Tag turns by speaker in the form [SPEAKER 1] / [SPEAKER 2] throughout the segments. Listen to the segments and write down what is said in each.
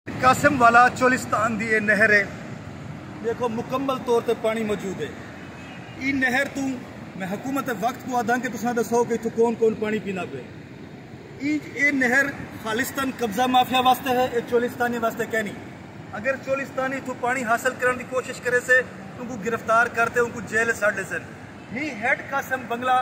[SPEAKER 1] قاسم والا چولستان دی اے نہر ہے دیکھو مکمل طور تے پانی موجود ہے ای نہر توں میں حکومت وقت کو آدھاں کہ تساں دسو کہ اتھوں کون کون پانی پینا پے ای اے نہر خالصتاً قبضہ مافیا واسطے ہے اے چولستانی واسطے کہنی اگر چولستانی اتھوں پانی حاصل کرن دی کوشش کرے سے ان کو گرفتار کرتے ان کو جیل ساڑ لے سن ہی ہیڈ قاسم بنگلہ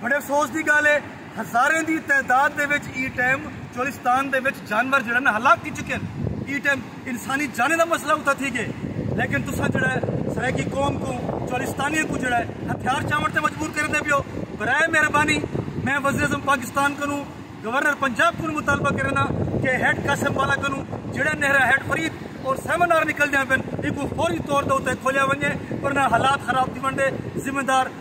[SPEAKER 1] بڑے افسوس دی گالھ اے ہزاریں دی تعداد دے وچ ایں ٹائم چولستان دے وچ جانور جیڑھے نا ہلاک تھی چکے ہن ایں ٹائم انسانی جانیں دا مسئلہ اتھاں تھی گئے لیکن تساں جیڑھے سرائیکی قوم کوں چولستانیاں کوں جیڑھے ہتھیار چاون تے مجبور کریندے پیو برائے مہربانی میں وزیر اعظم پاکستان کنوں گورنر پنجاب کنوں مطالبہ کرینداں کہ ہیڈ قاسم والا کنوں جیڑھے نہرہ ہیڈ فرید اور سیمنار نکل دیاں پن ایکوں فوری طور دے اتے کھولیا ونجے ورنہ حالات خراب تھی ونڈے ذمہ دار